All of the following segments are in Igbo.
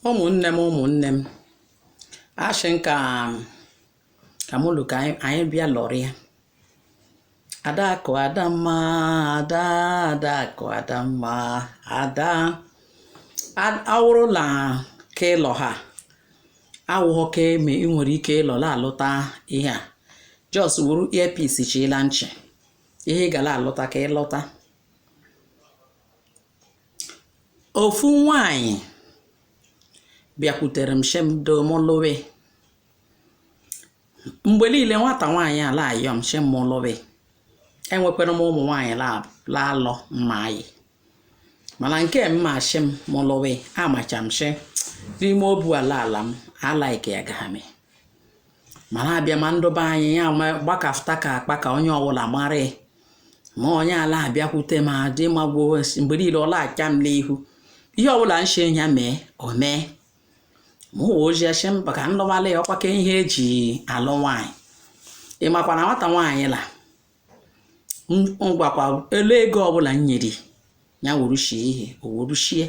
ụmụnne m ụmụnne m ashị m ka ka mụ lụ ka anyị anyị bịa lọrịa adakụ adamma ada adakụ adamma ada A- awụrụ na ka ịlọ ha awụghọ ka eme ị nwere ike ịlọ la alụta ihe a just wuru earpiece chi la nchị ihe ị gala alụta ka ị lụta ofu nwaanyị bịakwutere m shi m do m lụwe mgbe niile nwata nwaanyị a la-ayọ m shi m m lụwe enwekwara m ụmụ nwaanyị la-alọ mma anyị mana nke mma shi m m lụwe amacha m shi n'ime obu ala ala m alaike ya gahame mana abịa ma ndụba anyị ya gbakafụta ka akpa ka onye ọbụla mara ma onye a la-abịakwute m dị magbuo mgbe niile ọ la-acha m n'ihu ihe ọbụla m shi ya mee o mee m wo ji shi mba ka ndụbala ya ọkwa ka ihe eji alụ nwaanyị ị makwa na nwata nwaanyị la ngwakwa elu ego ọbụla m nyere ya wuru shie ihe o wuru shie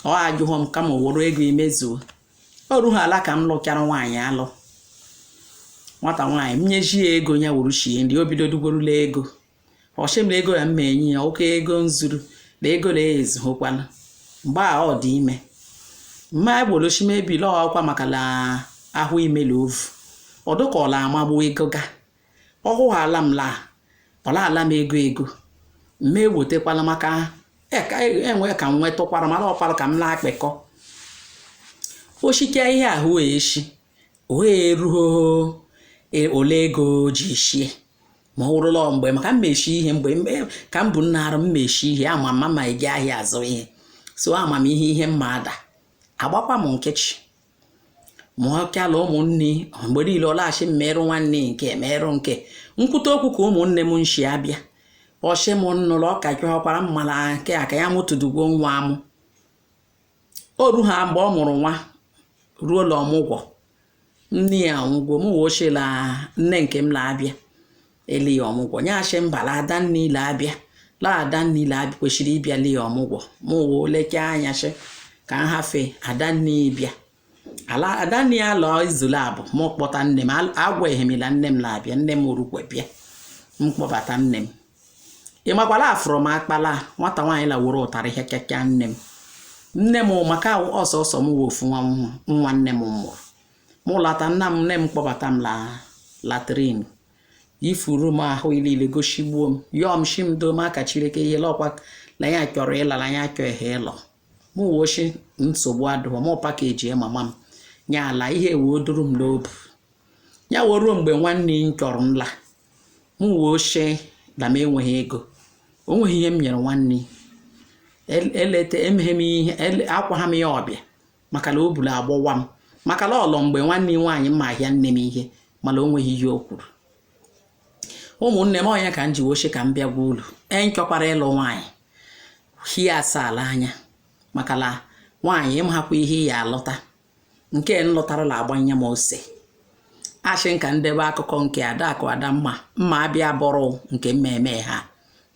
ọ ajụghọ m kama o were ego emezuo o ruhala ka m lụchara nwaanyị alụ nwata nwaanyị m nyeji ya ego ya wuru shie nri o bido dugorula ego ọ shị m na ego ya m ma enye ya oke ego nzuru na ego na ezughokwana mgbe a ọ dị ime mma egbolochime ebile ọkwa maka na ahụ imelu ovu ọdụkọla amagbu ego ga ọ hụghala m laa ọ la-ala m ego ego m ewetekwala maka enwe e, e ka m nwetụkwara mara ọkwara ka m na-akpịkọ o shike ihe ahụ eshi ohe eruo e, ole ego ji shie ma ọ wụrụla mgbe maka m ma eshi ihe mgbe ka m bụ nna arụ m ma eshi ihe ama m ma eji ahịa azụ ihe so ama m ihe ihe mma ada agbakwa m nkịchị ma ọ kala ụmụnne mgbe niile ọ la-ashi m merụ nwanne nke merụ nke m kwute okwu ka ụmụnne m nshi abịa ọ shị m nụrụ ọka gị ọkwara mmala nke a ka ya mụtụdugwo nwa amụ o ruha mgbe ọ mụrụ nwa ruo la ọmụgwọ nne ya nwụgwo m wo shi la nne nke m la-abịa ele ya ọmụgwọ ya shị mba la adanne ya la-abịa la adanne ya la-abịa kwesịrị ịbịa le ya ọmụgwọ m wo leke anya shị ka m hafe adanne ya bịa ala adanne ya lụọ izu laabụ m kpọta nne m agwaghị m la nne m la-abịa nne m orukwe bịa m kpọbata nne m ị makwala afụrụ m akpa la nwata nwaanyị la wuru tarị ihe kekea nne m nne m maka ọ sọsọ m wụ ofu nwa nwa nne m mụrụ mụ lata nna m nne m kpọbata m la latrin ifuru m ahụ niile gosigbuo m yọọ m shi m doo m aka Chileke ihe lọkwa na ya chọrọ ịla na ya chọọ ihe ịlọ mụ wee shi nsogbu adụọ mụ pakeji mama m nya ala ihe wee duru m n'obu ya wee ruo mgbe nwanne m chọrọ nla m wee shi na m enweghị ego o nweghị ihe m nyere nwanne eleta emeghe m ihe akwa ha m ya ọbịa maka na obu la-agbawa m maka na ọlọ mgbe nwanne nwaanyị mma ahịa nne m ihe mana o nweghị ihe o kwuru ụmụnne m ọ nya ka m ji wee shi ka m bịa gwa ulu enchọkwara ịlụ nwaanyị hie asaala anya maka na nwaanyị ịmahakwa ihe ya alụta nke m lụtara la-agbanye m ose a shị ka m debe akụkọ nke adakụ adamma mma abịa bụrụ nke mmemme ha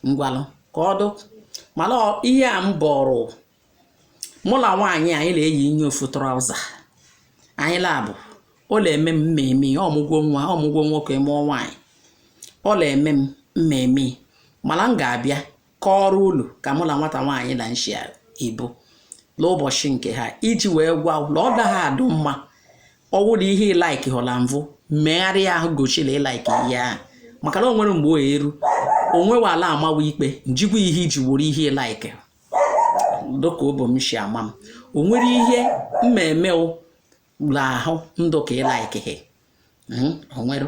m gwa ulu ka ọ dụ mana ihe a m bọrọ mụ na nwaanyị anyị na-eyi nye ofu traụza anyị laabụ ọ na-eme m mmemme ọmụgwọ nwa ọmụgwọ nwoke mụọ nwaanyị ọ na-eme m mmemme mana m ga-abịa kọọrọ ulu ka mụ na nwata nwaanyị na nshi ibu n'ụbọchị nke ha iji wee gwa na ọ daghị adụ mma ọ wụ na ihe ị laiki hụla mvụ megharịa ahụ goshi la ị laiki ihe ahụ maka na o nwere mgbe o eru onwewe ala amawa ikpe njikwa ihe iji wuru ihe ị laiki dịka obu m si ama m o nwere ihe mmemme ụlọ ahụ ndụ ka ị laikighi o nwere